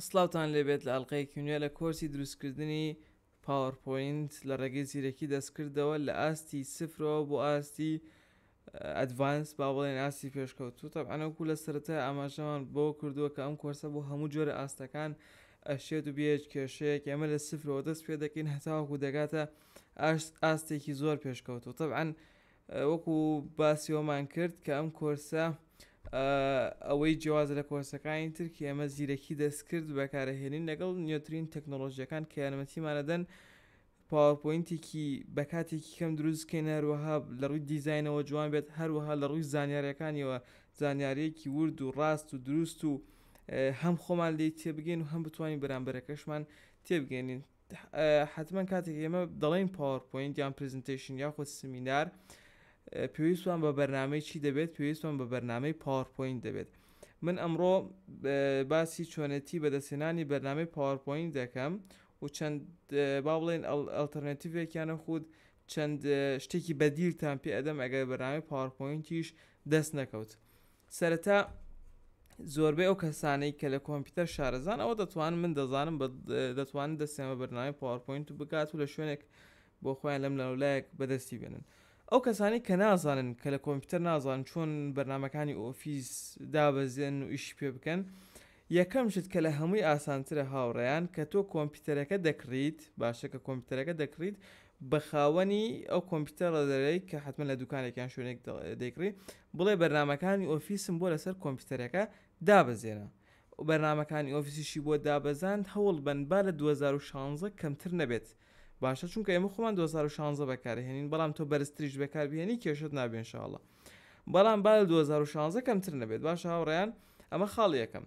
سڵاوتان لێبێت لە ئەڵقەیەکی نوێ لە کۆرسی دروستکردنی پاوەر پۆینت لە ڕێگەی زیرەکی دەستکردەوە لە ئاستی سفرەوە بۆ ئاستی ئەدڤانس با بڵێن ئاستی پێشکەوتوو تەبعەن وەکو لە سەرەتای ئاماژەمان بۆ کردووە کە ئەم کۆرسە بۆ هەموو جۆرە ئاستەکان ئەشێت و بێت کێشەیەک ئێمە لە سفرەوە دەست پێ دەکەین هەتاوەکو دەگاتە ئاستێکی زۆر پێشکەوتوو تەبعەن وەکو باسی ئەومان کرد کە ئەم کۆرسە ئەوەی جیاواز لە کۆرسەکانی تر کە ئێمە زیرەکی دەستکرد بەکارەهێنین لەگەڵ نوێترین تەکنۆلۆژیەکان کە یارمەتیمانەدەن پاوەپۆینتێکی بە کاتێکی کەم دروستکەین هەروەها لە ڕووی دیزینەوە جوان بێت هەروەها لە ڕووی زانیارەکانیەوە زانیارەیەکی ورد و ڕاست و دروست و هەم خۆمان لی تێبگەین و هەم بتوانین بەرامبەرەکەشمان تێبگەێنین حەتمەن کاتێک ئێمە دەڵێین پاوەرپۆینت یان پرزنتەیشن یاخود سمینار پێویستمان بە بەرنمەی چی دەبێت پێویستمان بە بەرنمەی پاوەرپۆینت دەبێت من ئەمڕۆ باسی چۆنێتی بەدەستێنانی بەرنمەی پاوەرپۆینت دەکەم و چەند با بڵێن ئەلتەرنێتیڤێکیانە خود چەند شتێکی بەدیلتان پێ ئەدەم ئەگەر بەرنامی پاوەرپۆینتیش دەست نەکەوت سەرەتا زۆربەی ئەو کەسانەی کە لە کۆمپیوتەر شارەزان ئەوە دەتوان من دەزانم بە دەتوانن دەستیان بە بەرنامی پاوەپۆینت بگات و لە شوێنێک بۆ خۆیان لەم لەولایەک بەدەستی بێنن ئەو کەسانی کە نازانن کە لە کۆمپیوتەر نازان چۆن بەرنمەکانی ئۆفیس دابەزێن و ئیشی پێ بکەن یەکەم شت کە لە هەمووی ئاسانترە هاوڕێیان کە تۆ کۆمپیوتەرەکە دەکڕیت باشە کە کۆمپیوتەرەکە دەکڕیت بە خاوەنی ئەو کۆمپیوتەرە دەرێی کە حتممە لە دوکانێک یان شوێنێک دەیکڕی بڵێ بەرنمەکانی ئۆفیسم بۆ لەسەر کۆمپیوتەرەکە دابەزێنە و بەرنمەکانی ئۆفیسیشی بۆ دابەزاند هەوڵ بن با لە 2016 کەمتر نەبێت باشە چونکە ئێمە خۆمان 2016 بەکارهێنین بەڵام تۆ بەرزتریش بەکاربهێنی کێشت نابێنشاءله بەڵام با لە دوو هەزار و شازدە کەمتر نەبێت باشە هاوڕێیان ئەمە خاڵی یەکەم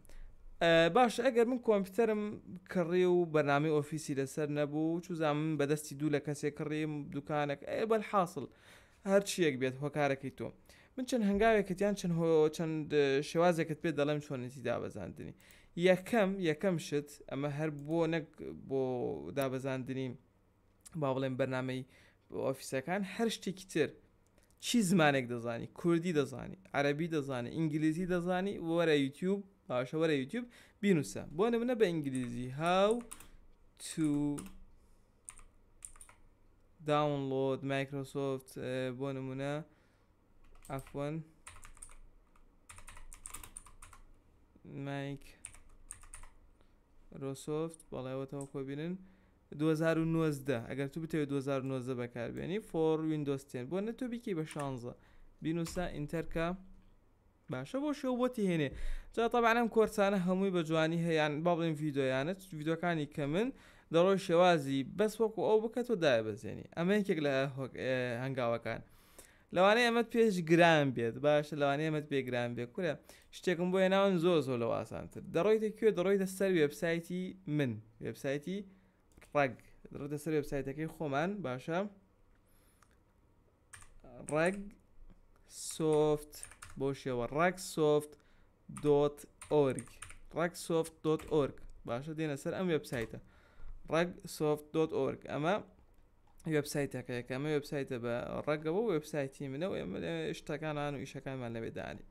باش ئەگەر من کۆمپیوتەرم کڕی و بەنامی ئۆفیسی لەسەر نەبوو چوزان من بەدەستی دوو لە کەسێک کڕیم دوکانێک ئەێ بەل حاصل هەرچیەک بێت هۆکارەکەی تۆ من چەند هەنگاوێکت یان چەند هۆ چەند شێوازێکت پێ دەڵێم چۆنێتی دابەزاندنی یەکەم یەکەم شت ئەمە هەر بۆ نەک بۆ دابەزاندنی با بڵێن بەرنمەی ئۆفیسەکان هەر شتێکی تر چی زمانێک دەزانی کوردی دەزانی عەربی دەزانانی ئینگلیزی دەزانی وەرە یوتیوب باشە وەرە یوتیوب بینوسە بۆ منە بە ئینگلیزی هاو تو داونلۆد مایکرۆسۆفت بۆ نمونە ئەفۆن مایک رۆسۆفت بەڵێەوەتەوە کۆبینن دوو هەزار و نۆزدە ئەگەر تو بتەوێ دوو هەزار و نۆزدە بەکار بێنی فۆر ویندۆز تێن بۆ نەتۆ بیکەی بە شانزە بینوسا ئینتەرکە باشە بۆ شێو بۆتی هێنێ جا تابانم کۆرسانە هەمووی بە جوانی هەیەیان با بڵێن یددیویانە یددیوەکانی کە من دەڕۆی شێوازی بەس وەکو ئەو بکە تۆ دای بەزێنی ئەمە یەکێک لە هەنگاوەکان لەوانەیە ئەمەت پێش گران بێت باشە لەوانەیە ئەمەت پێ گران بێ کورە شتێکم بۆ هێناون زۆر زۆر لە واسانتر دەڕۆیتە کوێ دەڕۆیتە سەر وێبسایتی من وێبسایتی ڕەگ دەڕۆیتە سەر وێبسایتەکەی خۆمان باشە ڕەگ سۆفت بۆ شێوە ڕەگ سۆفت دۆت ئۆرگ ڕەگ سۆفت دۆت ئۆرگ باشە دێنە سەر ئەم وێبسایتە ڕەگ سۆفت دۆت ئۆرگ ئەمە وێبسایتەکەیە کە ئەمە وێبسایتە بە ڕەگەوە وێبسایتی منە و ئێمە شتەکانان و ئیشەکانمان لەوێ دانی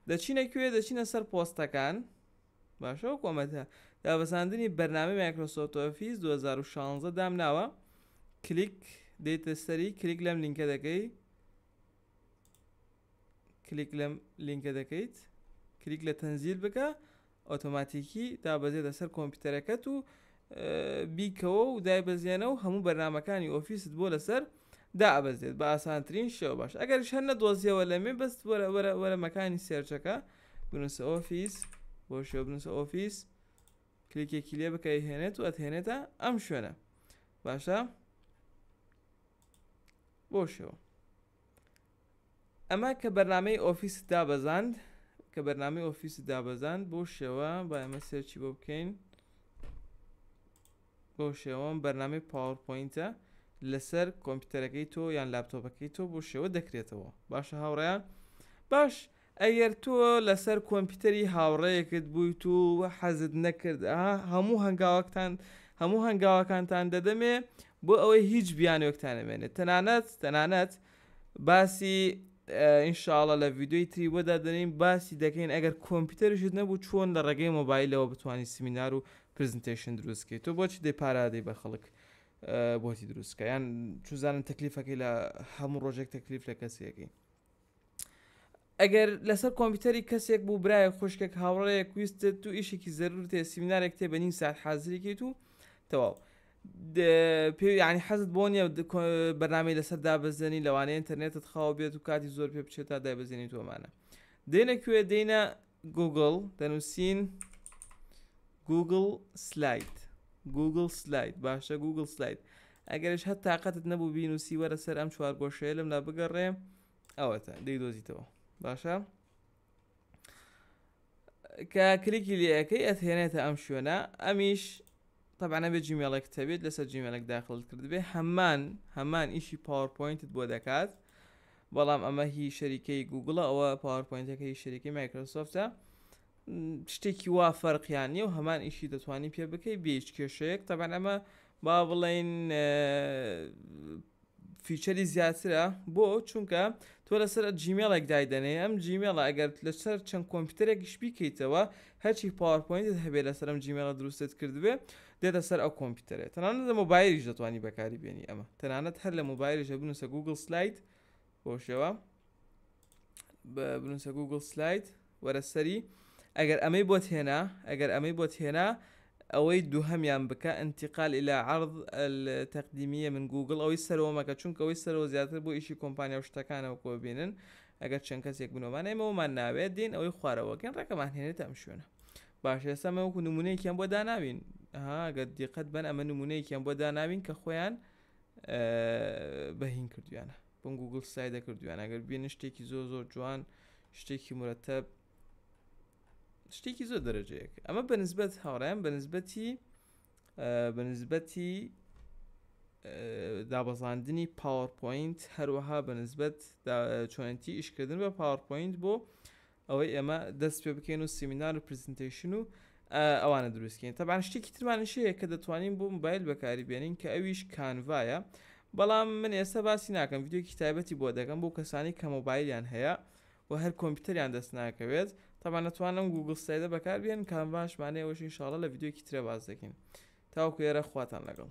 دەچینە کوێ دەچینە سەر پۆستەکان باشە و کۆمەتە دابەزاندنی بەرنامی مایکرۆسۆفت ئۆفیس 2016 دام ناوە کلیک دێتە سەری کلیک لەم لینکە دەکەی کلیک لەم لینکە دەکەیت کلیک لە تەنزیل بکە ئۆتۆماتیکی دابەزێتە سەر کۆمپیوتەرەکەت و بیکەوە و دایبەزیێنە و هەموو بەرنمەکانی ئۆفیست بۆ لەسەر دابەزێت بە ئاسانترین شێوە باش ئەگەر شەر نەدۆزیەوە لەمێ بەست وەرە مەکانی سێرچەکە بنووسە ئۆفیس بۆ شێ بنووسە ئۆفیس کلیکێکی لێ بکە هێنێت و ئەتهێنێتە ئەم شوێنە باشە بۆ شێوە ئەمە کە بەرنامەی ئۆفیست دابەزاند کە بەرنامەی ئۆفیست دابەزاند بۆ شێوە با ئێمە سێرچی بۆ بکەین بۆ شێوەم بەرنامەی پاوەڕپۆینتە لەسەر کۆمپیوتەرەکەی تۆ یان لاپتۆپەکەی تۆ بۆ شێوە دەکرێتەوە باشە هاوڕیان باش ئەگەر تۆ لەسەر کۆمپیوتەری هاوڕێیەکت بوویت و حەزت نەکرد هەموو هەنگاوەکتان هەموو هەنگاوەکانتان دەدەمێ بۆ ئەوەی هیچ بیانوێکتان نەمێنێت تەنانەت تەنانەت باسی ئینشاالله لە ڤیددیوی تری بۆ دادنین باسی دەکەین ئەگەر کۆمپیوتەرشت نەبوو چۆن لە ڕێگەی مۆبایلەوە بتانی سمینار و پرزنتیشن دروستکەیت تۆ بۆچی دەی پارادەی بە خەڵک بۆتی دروستکە یان چوزانم تەکلیفەکەی لە هەموو ڕۆژێک تەکلیف لە کەسیەکەی ئەگەر لەسەر کۆمپیوتەری کەسێک بوو برایەک خوشکێک هاوڕێیەک ویستت تو ئیشێکی زەرورت هەیە سیمینارێک تێ بە نیم ساعت حازری کەیت و تەواو پێ ینی حەزت بۆ نیە بەنامی لەسەر دابەزێنی لەوانەیە ئینتەرنێتت خاو بێت و کاتی زۆر پێ بچێت تا دابەزێنی تۆمانە دێنە کوێ دێنە گووگڵ دەنووسین گووگڵ سلایت گووگڵ سلایت باشە گووگڵ سلایت ئەگەرش هەر تااقەتت نەبوو بینوسی وەرە سەر ئەم چوارگۆشەیە لەم لا بگەڕێ ئەوەتە دەی دۆزیتەوە باشە کە کلیکی لەکەی ئەتهێنێتە ئەم شوێنە ئەمیش تەبعەن ئەبێ جیمێڵێکت هەبێت لەسەر جیمێلێک داخلت کردبێ هەمان هەمان ئیشی پاوەرپۆینتت بۆ دەکات بەڵام ئەمە هی شەریکەی گوگڵە ئەوە پاوەرپۆینتەکە هی شەریکی مایکرۆسۆفتە شتێکی وا فەرقیان نیە و هەمان ئیشی دەتوانانی پێ بکەی بێچ کێشەیەک تەبەن ئەمە با بڵین فیچەری زیاترە بۆ چونکە تۆ لەسەر جیمێڵێک دایدەنێ ئەم جیمێڵە ئەگەر لەسەر چەند کۆمپیوتەرێکیش بیکەیتەوە هەرچی پاوەرپۆینتت هەبێ لەسەر ئەم جیمێڵە دروستت کردبێ دێتە سەر ئەو کۆمپیوتەرێ تەنانەت لە مۆبایلیش دەتوانی بەکاری بێنی ئەمە تەنانەت هەر لە مۆبایلیشە بنووسە گوگل سلایت بۆ شێوە بنووسە گوگل سلایت وەرە سەری ئەگەر ئەمەی بۆت هێنا ئەگەر ئەمەی بۆت هێنا ئەوەی دوهەمیان بکە انتقال الی عرض التقدیمیە من گوگڵ ئەوەی سەرەوە مەکە چونکە ئەوەی سەرەوە زیاتر بۆ ئیشی کۆمپانیا و شتەکانەوە کۆ بینن ئەگەر چەند کەسێک بنەوەمان ئێمەوەمان ناوێت دین ئەوەی خوارەوەگەن ڕێکەمان هێنێت ئەم شوێنە باش ئێستا مە وەکو نمونەیەکیان بۆ داناوین هاگە دیقەت بەن ئەمە نمونەیەکیان بۆ داناوین کە خۆیان بەهین کردویانە بم گوگل سای دەکردویان ئەگەر بینن شتێکی زۆر زۆر جوان شتێکی مرەتە شتێکی زۆر دەرەجەیەک ئەمە بەنسبەت هاوڕیان بەنسبەتی بەنسبەتی دابەزاندنی پاوەپۆینت هەروەها بەنسبەت چۆنتی ئیشکردن بە پاوەپۆینت بۆ ئەوەی ئێمە دەست پێ بکەین و سیمینار و پرزنتەیشن و ئەوانە دروستکەین تەبان شتێکی ترمانش هەیە کە دەتوانین بۆ موبایل بەکاری بێنین کە ئەویش کانڤایە بەڵام من ئێستا باسی ناکەم یددیوکی تایبەتی بۆ دەگەم بۆ کەسانی کە مۆبایلیان هەیە و هەر کۆمپیوتەریان دەست ناکەوێت تەبان نەتوانم گوگل سایدە بەکار بێن کانڤاشمانەیەوەش انشاءڵە لە یددیوکی ترە باز دەکەین تاوکو ێرە خواتان لەگەڵ